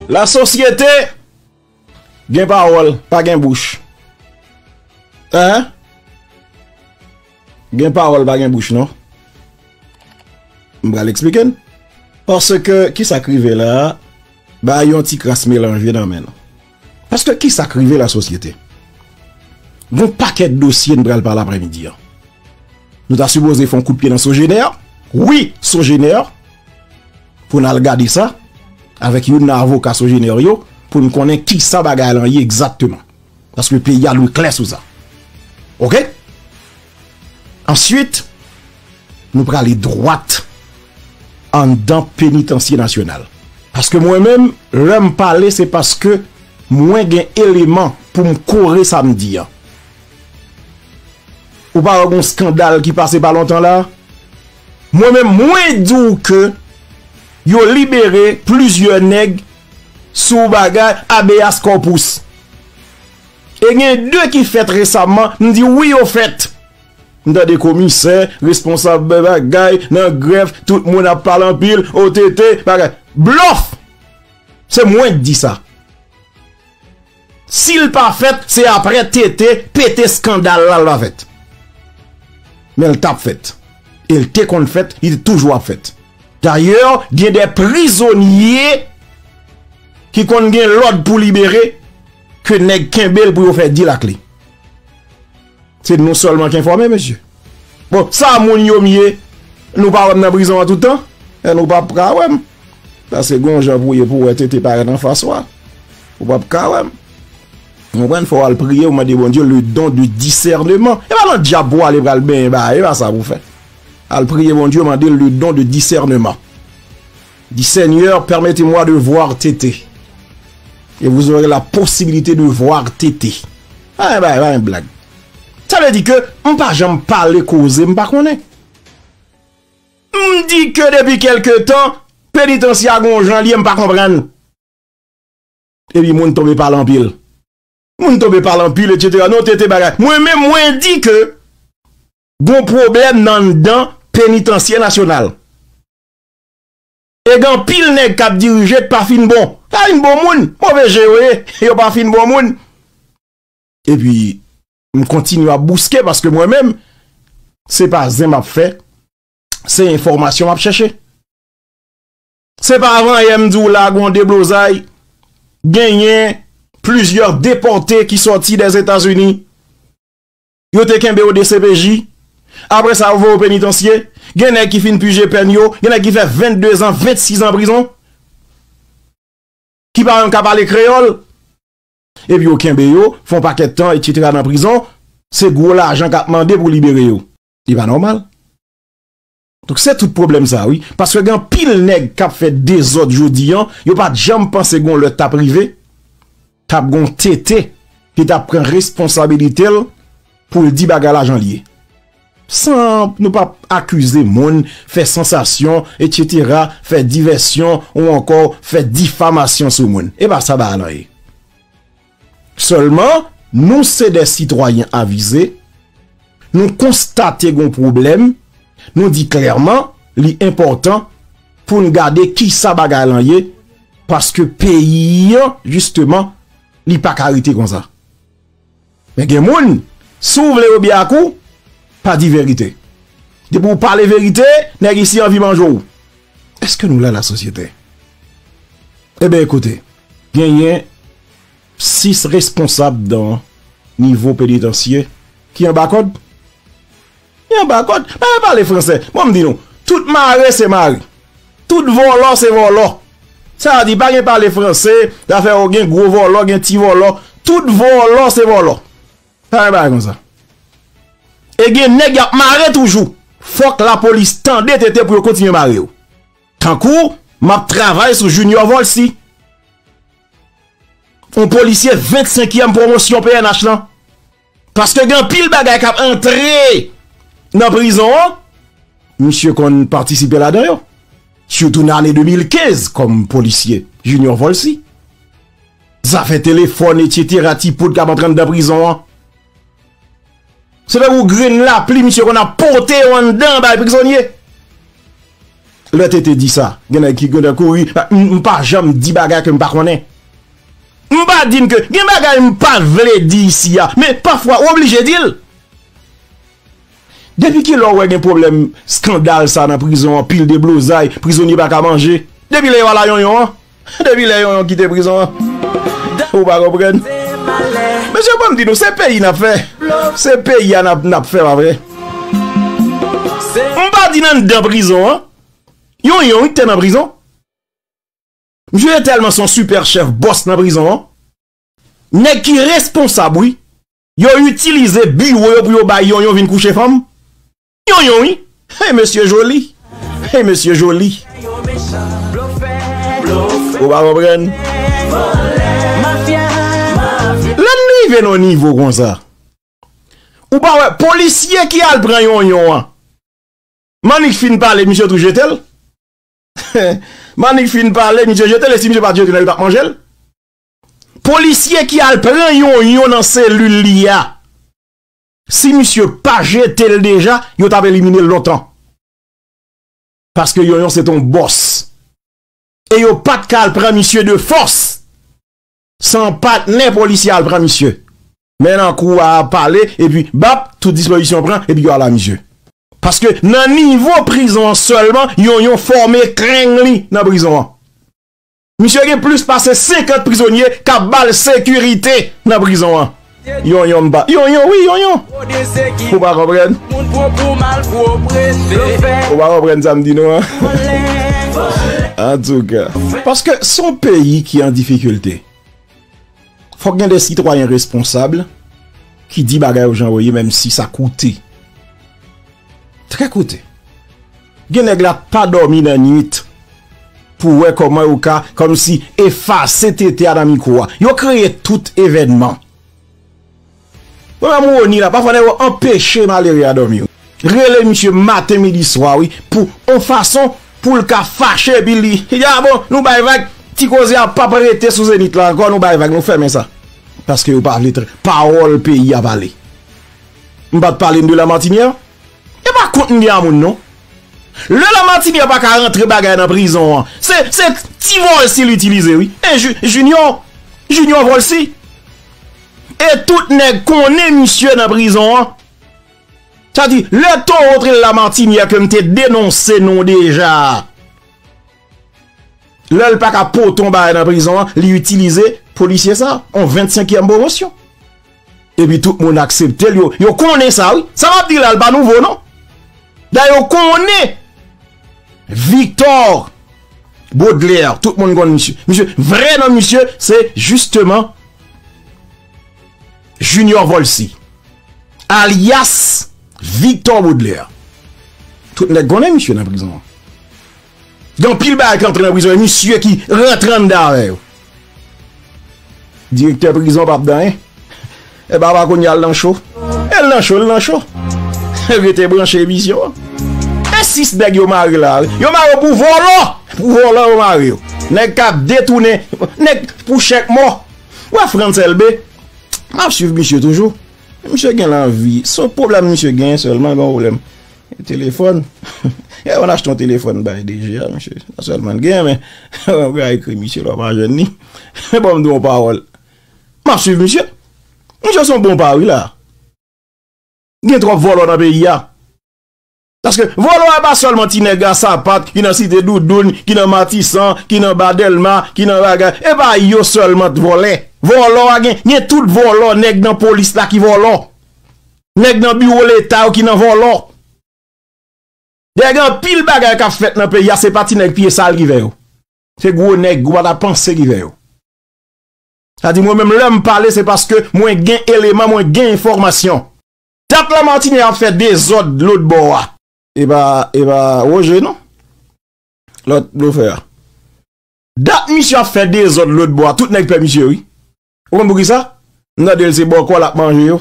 La sosyete gen pawòl pa gen bouch eeh gen pawòl pa gen bouch non m pral eksplike n paske kisa k rive la bay yon ti kras melanje nan men nou paske kisa k rive la sosyete gon pakèt dosye n pral pale aprè midi an nou ta sipoze fon kout pye nan sojenè wi sojenè. Pou n al gade sa, avèk youn nan avoka Sogener yo, pou n konnen ki sa bagay lan ye egzakteman. Paske peyi a dwe klè sou sa. Ok? Answit, nou prale dwat anndan penitansye nasyonal. Paske mwen menm, lè m pale, se paske mwen gen eleman pou m kore sa m di an. Ou pa wè gon skandal ki pase pa lontan la? Mwen menm mwen di w ke yo libere plizyè nèg sou bagay habeas corpus. E gen 2 ki fèt resamman, m di w wi yo fèt. M tande komisè, responsab bagay nan grèf, tout moun ap pale anpil, OTT, bagay. Blòf! Se mwen k di sa. Sil pa fèt se aprè TT pete skandal la lva fèt. Men l tap fèt. E l te konn fèt, li te toujou ap fèt. Dayè gen de prizonye ki konn gen lòd pou libere ke nèg kenbe l pou yo fè dil ak li. Se nou selman ki enfòme mesye. Bon sa moun yo m ye nou pa wè m nan prizon an tout tan? E nou pap ka wè m. Paske gon jan pou ye pou wè tete parèt an fas wa. Ou pap ka wè m. Ou konprann fò w al priye ou mande Bondye le don de discernement. E pa nan dyab pou w ale pral benyen ba e pa sa pou w fè. Al priye Bondye mande l le don de discernement. Di Seigneur permettez moi de voir TT et vous aurez la possibilité de voir TT Aah bay bay yon blag Sa vle di ke m pa janm pale koze m pa konnen M di ke depi kelke tan Penitansye a gon jan l ye m pa konprann Epi moun tonbe pale anpil Moun tonbe pale anpil etc non TT bagay Mwen menm mwen di ke Gon pwoblèm nan anndan Penitansye Nasyonal E gen anpil nèg k ap dirije k pa fin bon. Pa fin bon moun. Move je yo ye. Yo pa fin bon moun. Epi, m kontinye ap bouske paske mwen menm, se pa zen m ap fè, se enfòmasyon m ap chèche. Se pa avanyè m di w la gen yon deblozay, genyen plizyè depòte ki sòti Dèzetazini. Yo te kenbe w dcpj, apre sa yo voye w penitansye, gen nèg ki fin pije pèn yo, gen nèg ki fè 22 zan, 26 zan prizon, ki pa menm ka pale kreyòl, epi yo kenbe yo, fè yon pakèt tan etsetera nan prizon, se gwo lajan k ap mande pou libere yo. Li pa nòmal. Donk se tout pwoblèm sa wi. Paske gen anpil nèg kap fè dezòd jodi an, yo pat janm panse gon lè tap rive, tap gon TT ki tap pran responsabilite l pou l di bagay la jan l ye. San nou pap akize moun, fè sansasyon, etc, fè divèsyon ou ankò fè difamasyon sou moun. E pa sa bagay lan ye. Sèlman, nou se de sitwayen avize, nou konstate gon pwoblèm, nou di klèman li enpòtan pou n gade ki sa bagay lan ye, paske peyi an jisteman li pa ka rete konsa. Men gen moun, si w vle yo byen ak ou, pa di verite. Depi w pale verite, nèg isi anvi manje w. Eske nou la la sosyete? Ebe ekoute, genyen 6 responsab dan nivo penitansye ki anba kòd. Ki anba kòd. Mwen mwen pale franse. Mwen mdi nou, tout mare se mare. Tout vòlò se vòlò. Sa di pa gen pale franse, zafè ou gen gwo vòlò, gen ti vòlò. Tout vòlò se vòlò. Pale bagay konsa. E gen nèg yap mare toujou. Fòk la polis tande tete pou yo kontinye mare yo. Tankou map travay sou Junior Volcy. On polisye 25 yèm promosyon pnh lan. Paske gen pil bagay kap antre nan prizon an. Misye konn patisipe la dan yo. Soutou nan ane 2015 kom polisye Junior Volcy. Zafè telefòn etc ti poud kap antre anndan prizon an. Se pa gou grenn lapli misye konn ap pote yo anndan bay prizonye. Lè TT di sa, gen nèg ki gentan kouri, m pa janm di bagay ke m pa konnen. M pa di n ke gen bagay m pa vle di isi a, men pafwa ou oblije di l. Depi ki lè ou wè gen pwoblèm skandal sa nan prizon an, pil deblozay, prizonye pa ka manje? Depi lè yo ala yonyon an? Depi lè yon yon kite prizon an ou pa konprann mesye banm di nou se peyi nap fè se peyi a nap fè pa vre m pa di nan nan prizon an yon yon wi te nan prizon misye te telman son super chef boss nan prizon an nèg ki responsab wi yo itilize biwo yo pou yo bay yon yon vin kouche fanm Yon yon wi hey mesye joli hey mesye joli ou pa konprann lè n rive nan nivo konsa ou pa wè polisye ki al pran yon yon an mannik fin pale misye tou jete l mannik fin pale misye jete l e si misye pat jete l yo tap manje l polisye ki al pran yon yon nan selil li a. Si misye pa jetel deja yo tap eliminel lontan. Paske yonyon se ton bòs. E yo pat ka al pran misye de fòs. Se yon patnè polisye al pran misye. Men nan kou a ap pale epi bap tout dispozisyon pran epi yo al a misye. Paske nan nivo prizon an sèlman yonyon fòme kreng li nan prizon an. Misye gen plis pase 50 prizonye kap bal sekirite nan prizon an. Yon yon mpa. Yon yon wi yon yon. Ou pa konprann. Ou pa konprann sa mdi nou an. Antouka. Paske son peyi ki an difikilte. Fòk gen de sitwayen responsab ki di bagay yo jan yo ye menm si sa koute. Trè koute. Gen nèg la pa dòmi nan nwit pou wè kòman yo ka kòm si efase tete a nan mikwo a. Yo kreye tout evènman. Mwen menm Rony la pafwa nèg yo anpeche malere a dòmi wi. Rele misye maten midi swa wi pou on fason poul ka fache epi li di a bon nou bay vag ti koze a pap rete sou zenith la ankò nou bay vag nou fèmen sa paske yo pa vle tande pawòl peyi a pale. M pat pale de la martinière e pa kont m gen a moun non lè la martinière pa ka rantre bagay nan prizon an se se ti volcy l itilize wi e junior junior volcy. E tout nèg konnen misye nan prizon an. Sa di, lè towo te la Martinia ke m te denonse nou deja a. Lè l pa ka pote yon bagay nan prizon an, li itilize polisye sa, yon 25 kièm pwomosyon. E pi tout moun aksepte l yo. Yo konnen sa wi. Sa m ap di la l pa nouvo non. Da yo konnen. Victor Baudelaire, tout moun konn misye. Misye, vre non misye, se justement Junior Volcy. Alias Victor Baudelaire. Tout nèk konnen misye nan prizon an. Gan pil bagay ki antre nan prizon an, misye ki rentran andan avè yo. Direktè prizon pap dan yen. E papa kounye al nan cho. E l nan cho l nan cho. Rete branche emisyon an. E 6 nèg yo mare la. Yo mare yo pou vòlò. Pou vòlò yo mare yo. Nèg kap detounen. Nèg pou chèk mò. Wè Frantz Elbe. Map swiv misye toujou. Misye gen lanvi. Son problèm misye gen selman l gen yon problèm. Telefòn? Yè mwen achte yon telefòn bay DG a mesye. Sa sèl mwen gen men mwen ka ekri misye lò pa jwenn li. Men banm di w yon pawòl. Map swiv misye. Misye son bon pa wi la. Gen twòp vòlò nan peyi a. Paske vòlò epa sèlman ti nèg a sapat ki nan site doudoun, ki nan matisan, ki nan ba dèlma, ki nan bagay. Epa yo sèlman t vòlè. Vòlò a gen gen tout vòlò nèg nan polis la ki vòlò. Nèg nan biwo leta yo ki nan vòlò. Dayè gen anpil bagay kap fèt nan peyi a se pa ti nèg pye sal ki fè yo. Se gwo nèg ou pa ta panse ki fè yo. Sa di mwen menm lèm pale se paske mwen gen eleman mwen gen enfòmasyon. Dat la Martine ap fè dezòd lòt bò a. E pa e pa Roger non. Lòt blofè a. Dat misye ap fè dezòd lòt bò a tout nèg pè misye wi. Ou konn poukisa? M tande l se bòkò l ap manje yo.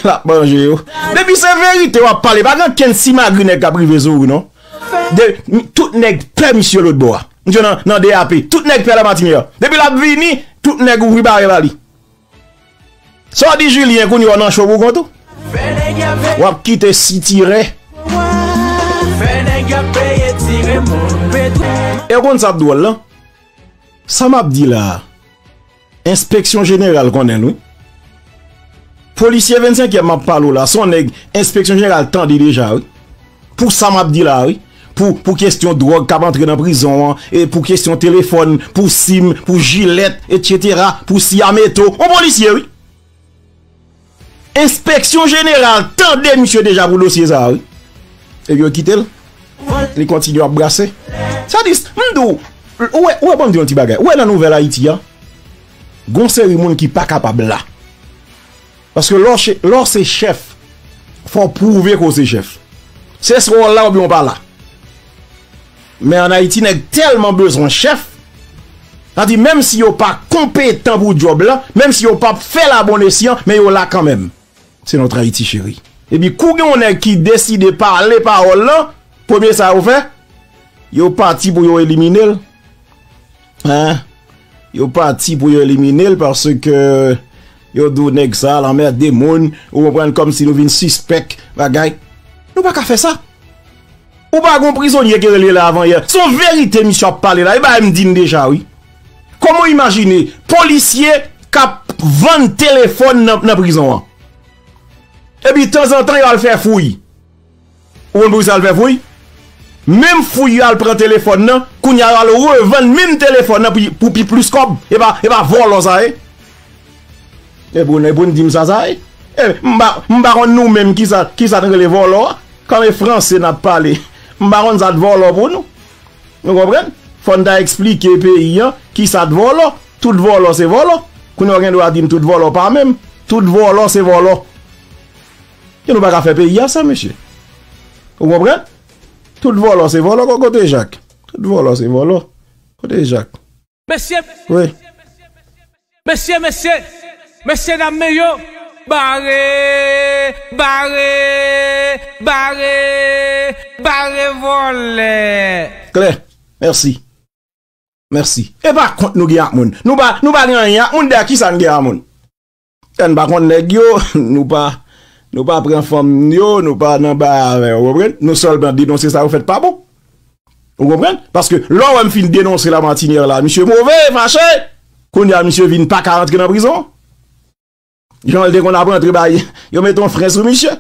L ap manje yo. Depi se verite w ap pale, pa gen okenn simagri nèg k ap rive sou ou non. Tout nèg pè misye lotbò a. Misye nan DAP. Tout nèg pè Lamartine yo. Depi l ap vini, tout nèg ouvri bare ba li. Sa w di Julien kounye a w nan cho pou kont ou? W ap kite sitirè. E w konn sa k dwòl lan? Sa map di la a enspeksyon jeneral konnen l wi. Polisye 25 yèm map pale w la son nèg enspeksyon jeneral tande deja wi. Pou sa map di la a wi. Pou kestyon dròg kap antre nan prizon an, pou kestyon telefòn, pou sim, pou jilèt etc. Pou siya meto. On polisye wi. Enspeksyon jeneral tande misye deja pou dosye sa a wi. Epi yo kite l, li kontinye ap brase. Sa di, m di w, ou wè, ou wè ban m di w yon ti bagay. Ou wè nan nouvèl Ayiti an, gen yon seri moun ki pa kapab la. Paske lè w se, lè w se chèf, fò w pwouve ke w se chèf. Se swa w la oubyen w pa la. Men an Ayiti nèg tèlman bezwen chèf, sa di menm si yo pa konpetan pou djòb la, menm si yo pap fèl a bon esyan, men yo la kanmenm. Se notre Haïti chérie. Epi kou gen yon nèg ki deside pale pawòl lan, premye sa yo fè, yo pati pou yo eliminel. Hein? Yo pati pou yo elimine l paske yo di w nèg sa al anmède moun, ou konprann, kòmsi nou vin sispèk bagay. Nou pa ka fè sa. Ou pa gon prizonye ki rele Lavanyè. Se yon verite misye ap pale la. Li bay m di m deja wi. Kòman w imajine polisye k ap vann telefòn nan prizon an? Epi tanzantan yo al fè fouy. Ou konn pou kisa l fè fouy? Menm fouy yo al pran telefòn nan, kounya yo al revann menm telefòn nan pou pi plis kòb. E pa vòlò sa ye? E pou nou di m sa sa ye? M pa konn nou menm kisa n rele vòlò a? Kòm e franse n ap pale, m pa konn sa t vòlò pou nou. Nou konprann? Fò n ta eksplike peyi an kisa t vòlò. Tout vòlò se vòlò. Kounya w gen dwa di m tout vòlò pa menm. Tout vòlò se vòlò. Ke nou pa ka fè peyi a sa mesye. Ou konprann? Tout vòlò se vòlò kon kote Jak. Tout vòlò se vòlò. Kote Jak? Mesye, mesye, mesye, mesye, mesye dam men yo bare, bare, bare, bare vòlè. Klè. Mèsi. Mèsi. E pa kont nou gen ak moun. Nou pa, nou pa gen anyen ak moun, dayè kisa n gen ak moun? Ann pa konn nèg yo, nou pa Nou pa pran fanm yo, nou pa nan bay avè yo, ou konprann? Nou sèlman denonse sa yo fèt pa bon. Ou konprann? Paske lè w wè m fin denonse Lamartinière la, misye move, fache, kounye a misye vin pa ka rantre nan prizon. Jan l te konn ap rantre bay, yo mete yon fren sou misye.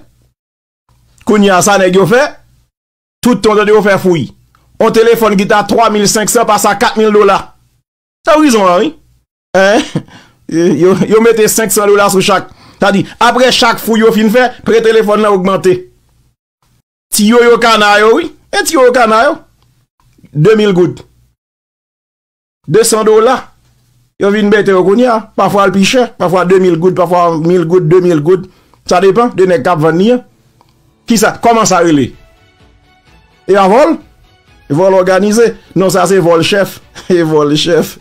Kounye a sa nèg yo fè, tout tan w tande yo fè fouy. Yon telefòn ki te a 3500 pase a 4000 dola. Se prizon an wi. Yo mete 500 dola sou chak. Sa di, apre chak fouy yo fin fè, pre telefon nan ogmante. Ti yo yo kana yo, wi. E ti yo yo kana yo. 2000 goud. 200 dola. Yo vin bete yo kounye a. Pa fwa alpiche. Pa fwa 2000 goud. Pa fwa 1000 goud. 2000 goud. Sa depan. De nèk kap vann ni a. Kisa, kòman sa rele? E a vòl? Vòl òganize? Non sa se vòl chèf. E vòl chèf.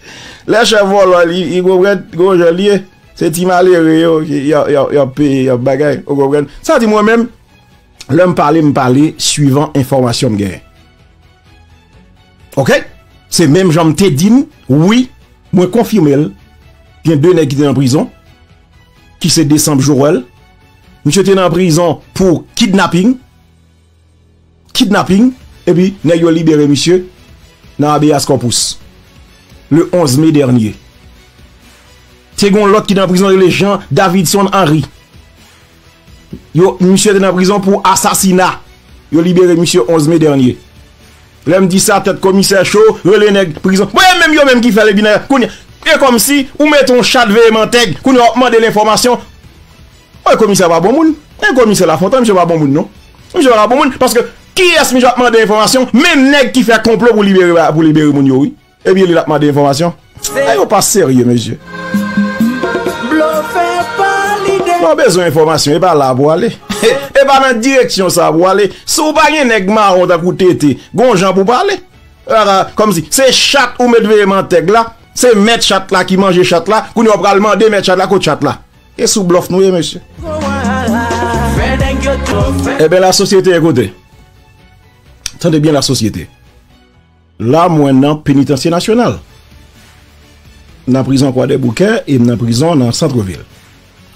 Lè chèf vòlò li, ou konprann, gon jan li ye. Se ti malere yo ki y ap peye, y ap bagay. Ou konprann? Sa di mwen menm, lè m pale, m pale suivan enfòmasyon m genyen. Ok? Se menm jan m te di nou, wi, mwen konfime l, gen 2 nèg ki te nan prizon. ki se Desanb Joel, misye te nan prizon pou kidnaping, kidnaping, epi nèg yo libere misye nan Abeas Corpus, le 11 me dènye. Te gen yon lòt ki te nan prizon rele Jean Davidson Henry. Yo, misye te nan prizon pou asasina. Yo libere misye 11 me dènye. Lè m di sa, tèt komisè cho, rele nèg prizon. Bon, e menm yo menm ki fè l epi nan yo. Kounye, e kòmsi ou mete yon chat veye mantèg, kounye a w ap mande l enfòmasyon. Bon, komisè a pa bon moun. E komisè Lafontan, misye pa bon moun non. Misye pa ka bon moun, paske kiyès misye ap mande enfòmasyon? Menm nèg ki fè konplo pou libere moun yo wi. Ebyen li lap mande enfòmasyon? Nèg yo pa serye mesye. Lè w bezwen enfòmasyon e pa la pou w ale. E pa nan direksyon sa pou w ale. Si w pa gen nèg mawon tankou TT, gon jan pou w pale. Kòm si se chat ou met veye mantèg la, se mèt chat la ki manje chat la, kounye a w pral mande mèt chat la kot chat la. E sou blòf nou ye mesye. Ebyen la sosyete e kote? Tande byen la sosyete. La mwen nan Penitansye Nasyonal. M nan prizon Kwadèboukè e m nan prizon nan Santrevil.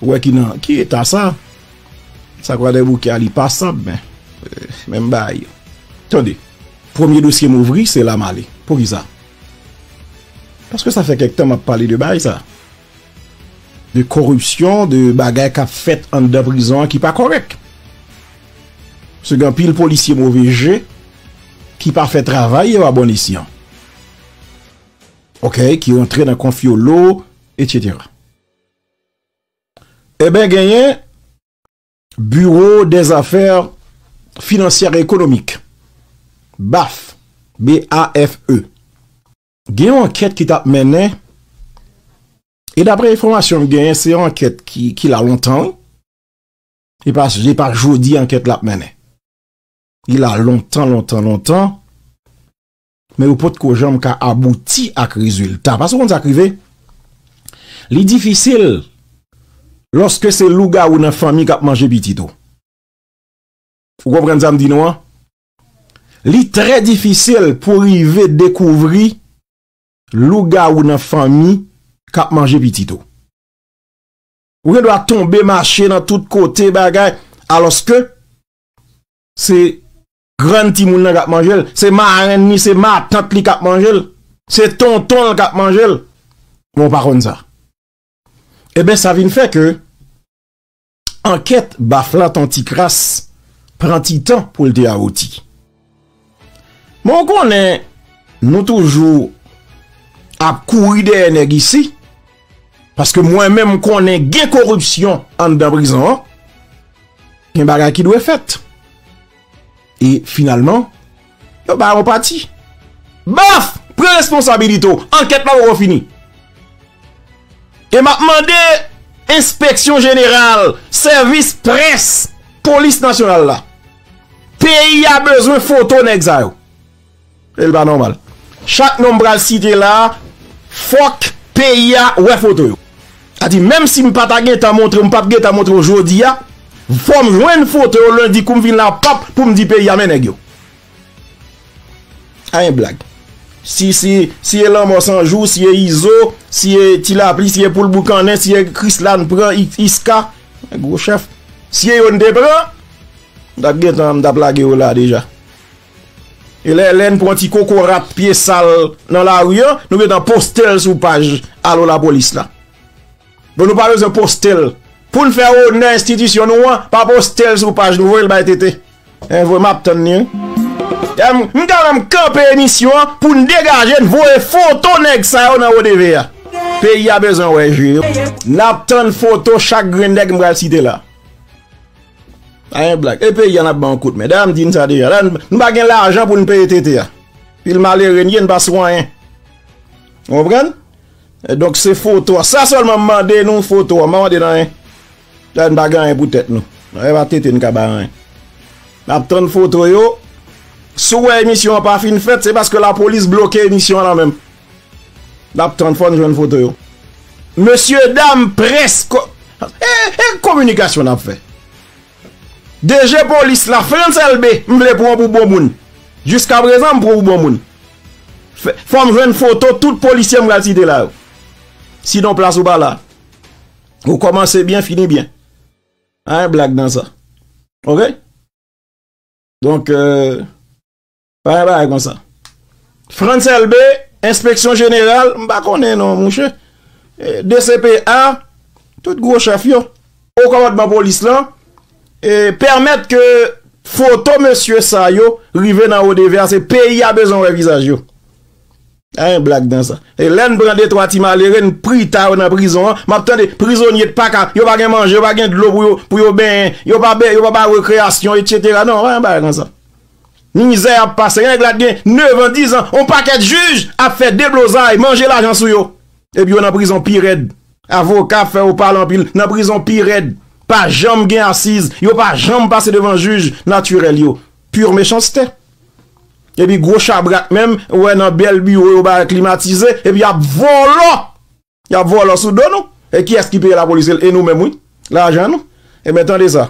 Ou wè ki nan ki eta sa? Sa Kwadèboukè a li pasab men. Menm bagay. Tande, premye dosye m ouvri se la m ale. Poukisa? Paske sa fè kèk tan m ap pale de bagay sa. de koripsyon, de bagay k ap fèt anndan prizon an ki pa kòrèk. Se gen anpil polisye move je ki pa fè travay yo a bon esyan. Ok, ki rantre nan konfyolo, etsetera. E ben genyen Biro de Zafè Finansyè Ekonomik, BAF, B-A-F-E. Gen yon ankèt ki t ap mennen, e daprè enfòmasyon m genyen, se yon ankèt ki la lontan wi. Se pa jodi ankèt la ap mennen. Li la lontan, lontan, lontan, men yo pot ko janm ka abouti ak rezilta. Paske ou konn sa k rive, li difisil lòske se lougawou nan fanmi k ap manje pitit ou. Ou konprann sa m di nou an? Li trè difisil pou rive dekouvri lougawou nan fanmi k ap manje pitit ou. Ou gen dwa tonbe mache nan tout kote bagay, alòske se grann timoun nan k ap manje l, se marenn li, se matant li k ap manje l, se tonton l k ap manje l, men w pa konn sa. Eben sa vin fè ke Ankèt bafla ton ti kras pran ti tan pou l te awouti. Men w konnen nou toujou ap kouri dèyè nèg isi, paske mwen men m konnen gen koripsyon anndan prizon an, gen bagay ki dwe fèt. E finalman, yo bay yon pati. Baf! Pran responsabilite w! Ankèt la poko fini. E m ap mande enspeksyon jeneral, sèvis près, polis nasyonal la. Peyi a bezwen foto nèg sa yo. El pa nòmal. Chak non m pral site la a fòk peyi a wè foto yo. Sa di menm si m pa ta gentan montre w, m pap gentan montre w jodi a, fò m jwenn foto yo lendi kou m vin la pap pou m di peyi a men nèg yo. A yon blag. Si si si e lanmò san jou, si e izo, si e ti lapli, si e poul boukannen, si e krisla n pran iska, gwo chèf. Si e yo n te pran, m tap gentan m tap lage yo la deja. E lè Lène pran ti kokorat pye sal nan lari an, nou gentan poste l sou paj Alo Lapolis la. Bon nou pa bezwen poste l. Pou n fè onè enstitisyon nou an, pa poste l sou paj nou, voye l bay TT. Hein voye m ap tann li wi. M ta menm kanpe emisyon an pou n degaje n voye foto nèg sa yo nan wo TV a. Peyi a bezwen wè je yo. N ap tann foto chak grenn nèg m pral site la. Pa gen blag. E peyi a n ap ban yon kout men. Dayè m di n sa deja. Nou pa gen lajan pou n peye tete a. Pil malere n ye n pa sou anyen. Ou konprann? Donk se foto a. Sa sèlman m mande nou foto a. M pa mande n anyen. Dayè n pa gen anyen pou tèt nou. E pa tete n ka bay anyen. N ap tann foto yo. Si w wè emisyon an pa fin fèt se paske lapolis bloke emisyon an lan menm. Nap tann fòn jwenn foto yo. Mesye dam près ko. E kominikasyon nap fè. DG polis la Frantz Elbe m vle pran w pou bon moun. Jiska prezan m pran w pou bon moun. Fòm jwenn foto tout polisye m pral site la yo. Sinon plas ou pa la. Ou komanse byen fini byen. Anyen blag nan sa. Ok. Donk euh. Bagay bagay konsa. Frantz Elbé, enspeksyon jeneral, m pa konnen non mouche. DCPA, tout gwo chèf yo. Wo kòmandman polis lan, pèmèt ke foto mesye sa yo rive nan ODV a, se peyi a bezwen wè vizaj yo. Pa gen blag nan sa. E lè n pran de twa ti malere, n prita yo nan prizon an, m ap tande prizonye t pa ka, yo pa gen manje, yo pa gen dlo pou yo benyen, yo pa ba yo rekreyasyon, etsetera. Non, pa gen bagay konsa. Mizè yap pase gen nèg la t gen 9 ans 10 ans on pakèt juge ap fè deblozay manje lajan sou yo epi yo nan prizon pi rèd avoka ap fè yo pale anpil nan prizon pi rèd pa janm gen asiz yo pa janm pase devan juge naturel yo pur mechanste epi gro chabrak menm ou wè nan bèl biro yo ba klimatize epi yap vòlò yap vòlò sou do nou e kiyès ki peye lapolis e nou menm wi lajan nou ebyen tande sa.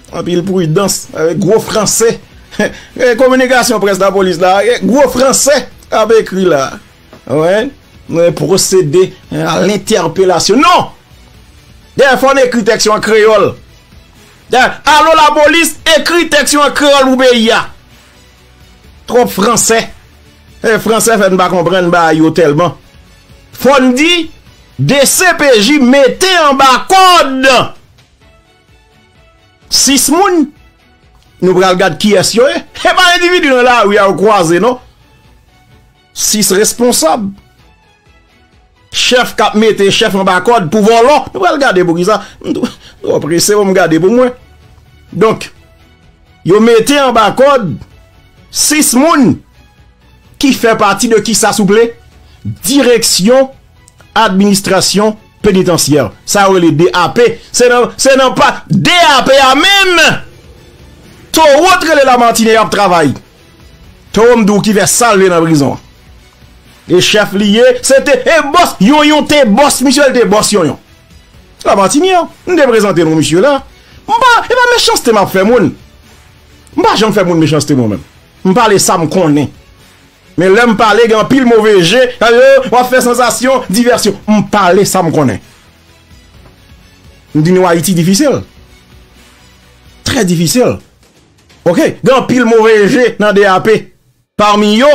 Anpil pridans avèk gwo franse. Gade kominikasyon près lapolis la. Gwo franse ap ekri la. Mwen pwosede a lentèpelasyon. Non! Dèyè fò n ekri tèks yo an kreyòl. Alo lapolis, ekri tèks yo an kreyòl pou peyi a. Twòp franse. Franse fè n pa konprann bagay yo tèlman. Fò n di, dcpj mete anba kòd. 6 moun, nou pral gad kiyès yo ye, e pa endividi nan lari a ou kwaze non, 6 responsab, chèf k ap mete chèf anba kòd pou vòlò, nou pral gade pou kisa, m twò prese pou m gade pou mwen. Donk, yo mete anba kòd 6 moun ki fè pati de kisa souple? Direksyon administrasyon. Penitansye sa yo rele DAP se nan pa DAP a menm towo t rele Lamartine yap travay towo m di w ki fè sal vle nan prizon an e chèf li ye se te e bòs yon yon te bòs misye l te bòs yon yon Lamartine an m te prezante nou misye la m pa e pa mechanste m ap fè moun m pa janm fè moun mechanste mwen menm m pale sa m konnen. Men lè m pale gen anpil move je, sa yo w ap fè sansasyon, divèsyon. M pale sa m konnen. M di nou Ayiti difisil. Trè difisil. Ok, gen anpil move je nan DAP. Pami yo,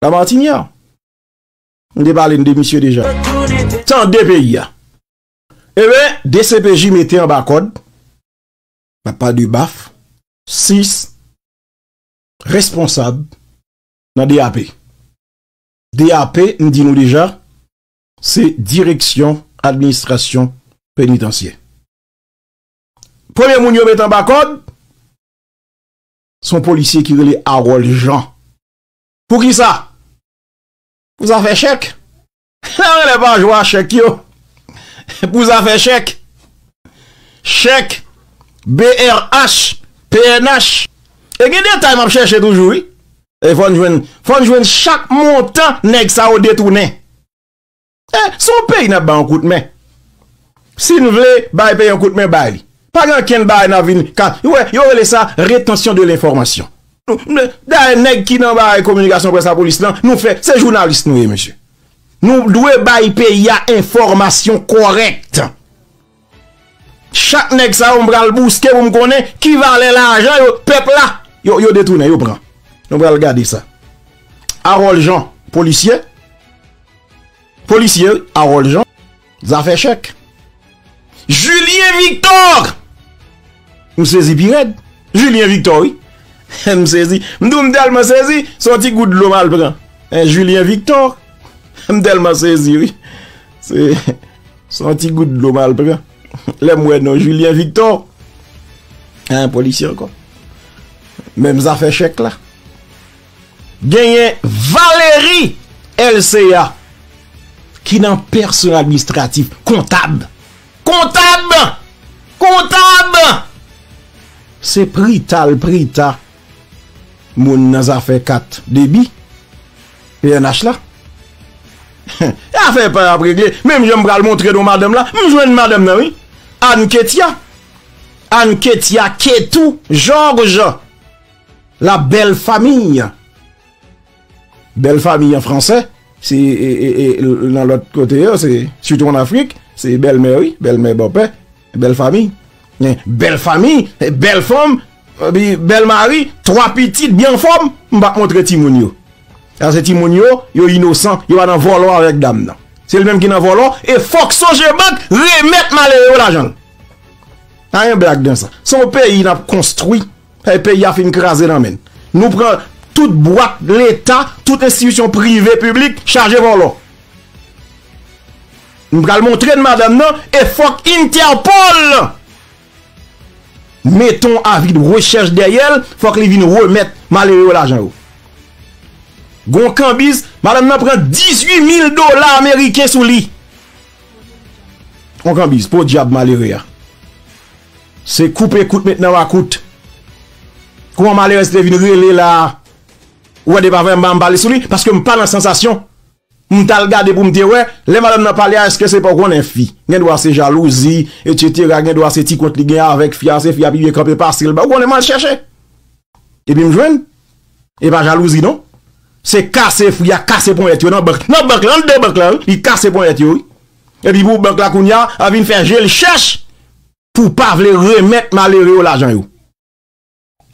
la Martinière. M te pale de misye deja. Tande peyi a. E ben, dcpj mete anba kòd, m ap pale de baf, sis, responsab nan DAP. DAP, m di nou deja, se Direksyon Administrasyon Penitansye. Premye moun yo met anba kòd, se yon polisye ki rele Harold Jean. Pou ki sa? Pou zafè chèk. Sa rele pa jwe a chèk yo. Pou zafè chèk. Chèk. BRH. Pnh. E gen detay map chèche toujou wi. E fòn jwenn. Fòn jwenn chak montan nèg sa yo detounen. E son peyi nap ba yon kout men. Si n vle bay peyi yon kout men, bay li. Pa gen ankenn bagay n ap vin ka, ou wè, yo rele sa retansyon de lenfòmasyon. Dayè nèg ki nan bagay kominikasyon près lapolis lan, nou fè, se jounalis nou ye mesye. Nou dwe bay peyi a enfòmasyon kòrèk. Chak nèg sa yo m pral bouske pou m konnen ki valè lajan yo, pèp la, yo detounen, yo pran. Nou pral gade sa. Arol Jean, polisye. Polisye, Arol Jean. Zafè chèk. Julien Victor! M sezi pi rèd. Julien Victor wi. M sezi. M tou m tèlman sezi, se yon ti gout dlo m al pran. Hein Julien Victor! M tèlman sezi wi. Se se yon ti gout dlo m al pran. Lè m wè non Julien Victor. Hein polisye ankò. Menm zafè chèk la. Genyen Valery Elcea ki nan pèsonèl administratif, kontab. Kontab! Kontab! Se prita l prita moun nan zafè kat debi pnh la. E afè pa yo ap regle. Menm jan m pral montre nou madanm la, m jwenn madanm nan wi. Anne Ketya. Anne Ketya Ketou Georges. La belle famille. Belle famille an fransè, se nan lòt kote yo, se sitou an Afrik, se bèlmè wi, bèlmè bòpè, bèl fami. Men, bèl fami, bèl fanm, epi bèl mari, twa pitit byen anfòm, m pa montre timoun yo. Paske timoun yo, yo inosan, yo pa nan vòlò avèk dam nan. Se li menm ki nan vòlò, e fòk Sogebank remèt malere yo lajan l. Pa gen blag nan sa. Se yon peyi n ap konstwi. Hey peyi a fin kraze nan men Nou pran tout bwat leta tout enstitisyon prive piblik chaje vòlò Nou pral montre n madanm nan e fòk interpol Mete yon avi de rechèch dèyè l fòk li vin remèt malere yo lajan yo Gon kanbiz madanm nan pran 18 mil dola ameriken sou li Yon kanbiz podyab malere a. Se koupe kout met nan makout. Kouman malerèz te vin rele la a? Ou wè depa vèm pa m pale sou li paske m pa nan sansasyon. M t al gade pou m te wè lè madanm nan pale a èske se pa ou konnen fi. Gen dwa se jalouzi etc gen dwa se ti kont li gen avèk fi a se fi a pi byen kanpe pase l ba ou konnen m al chèche epi m jwenn e pa jalouzi non. Se kase fi a kase ponyèt yo nan bank nan bank lan, nan bank lan wi li kase ponyèt yo wi. Epi pou bank la kounya a vin fè je l chèch pou pa vle remèt malere yo lajan yo.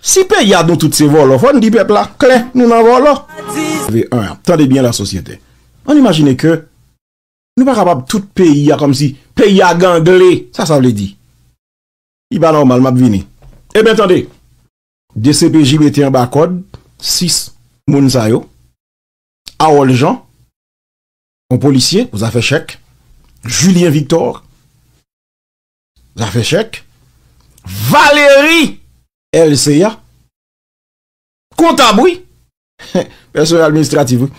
Si peyi a nou tout se vòlò fò n di pèp la klè nou nan vòlò. Tande byen la sosyete. An n imajine ke nou pa kapab tout peyi a kòmsi peyi a gangle. Sa sa vle di? Li pa nòmal m ap vini. Eben tande. Dcpj mete anba kòd 6 moun sa yo. Awòl Jan. yon polisye pou zafè chèk, Julien Victor, zafè chèk, Valérie Elcéa, kontab wi, pèsonèl administratif wi,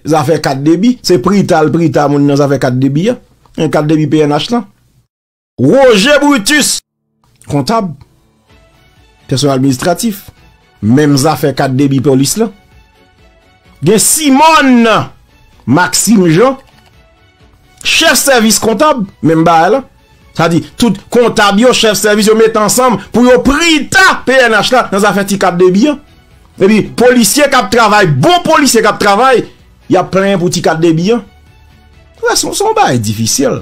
zafè kat debi, se prita l prita moun nan zafè kat debi an, kat debi pnh lan. Roger Brutus, kontab, pèsonèl administratif, menm zafè kat debi polis lan. Gen Simon Maxime Jean, chèf sèvis kontab, menm bagay lan. Sa di, tout kontab yo, chèf sèvis yo met ansanm pou yo prita pnh la nan zafè ti kat debi an. E pi, polisye kap travay, bon polisye kap travay, yap plenyen pou ti kat debi an. Wè, son bagay difisil.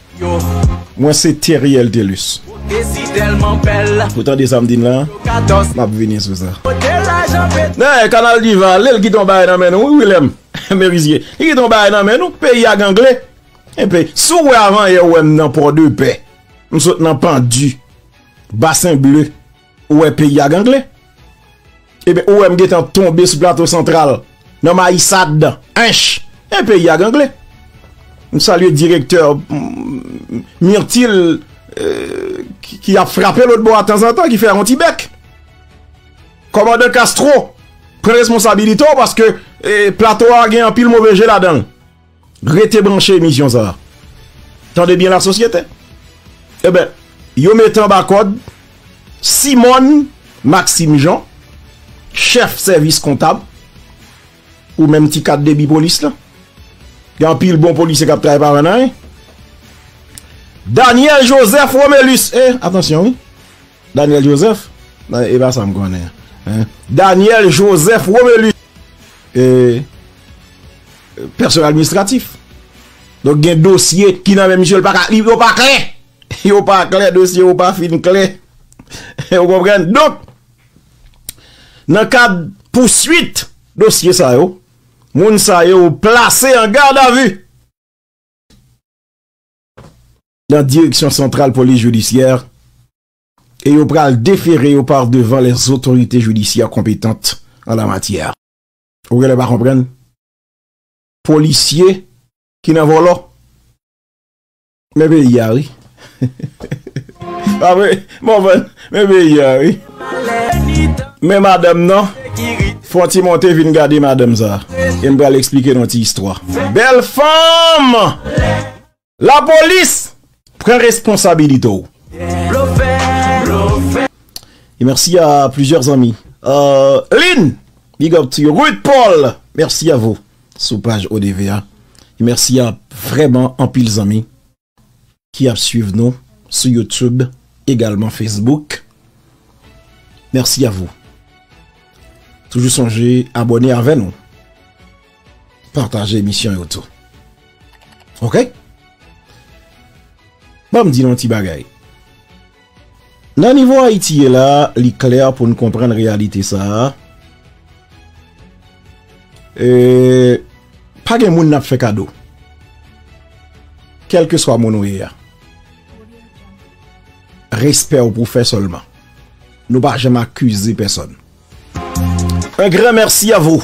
Mwen se Theriel Thelus. Ou tande sa m di n la? M ap vini sou sa. Dayè, Kanal Diva, lè l kite yon bagay nan men nou wi Wilèm Merizye. Li kite yon bagay nan men nou. Peyi a gangle. Enpe, si w wè avanyè ou wè m nan Pòdepè. M sot nan Pandu. Basen Ble. Ou wè peyi a gangle? Eben, ou wè m gentan tonbe sou Plato Santral nan Mayisad. Ench! E peyi a gangle. M salye direktè Myrtil ki ap frape lòt bò a tanzantan, ki fè yon ti bèk. Kòmandan Castro, pran responsabilite w paske Plato a gen anpil move je ladan l. Rete branche emisyon sa a. Tande byen la sosyete. E ben, yo mete anba kòd Simone Maxime Jean, chèf sèvis kontab pou menm ti kat debi polis la. Gen anpil bon polisye kap travay pa wè nan anyen. Daniel Joseph Romelus, e, eh, atansyon wi. Daniel Joseph? Nan e pa sa m konnen hein. Daniel Joseph Romelus e Pèsonèl administratif. Donk gen dosye ki nan men misye l pa ka li yo pa klè. Yo pa klè dosye yo pa fin klè. Ou konprann? Donk nan kad pouswit dosye sa yo moun sa yo plase an gadavi. nan Direksyon Santral Polis Jidisyè e yo pral defere yo par devan lèzotorite jidisyè konpetant an la matyè. Ou genlè pa konprann? Polisye ki nan vòlò? Men peyi a wi. Pa vre? Mòvann, men peyi a wi. Men madanm nan, fon ti monte vin gade madanm sa. E m pral eksplike nou ti istwa. Bèl fanm! La polis pran responsabilite w. E merci a plusieurs zanmi. Lynn, big up to you. Ruth Paul, merci a vou. Sou paj ODV a. E merci a vreman anpil zanmi ki ap swiv nou sou YouTube egalman Facebook. Merci a vou. Toujou sonje abone avè nou. Pataje emisyon yo tou. Ok? Banm di nou yon ti bagay. Nan nivo Ayiti ye la, li klè pou nou konprann reyalite sa a. E, pa gen moun nap fè kado. Kèlke swa moun ou ye a. Respè ou pou fè sèlman. Nou pa janm akize pèsòn. Un gran merci à vous.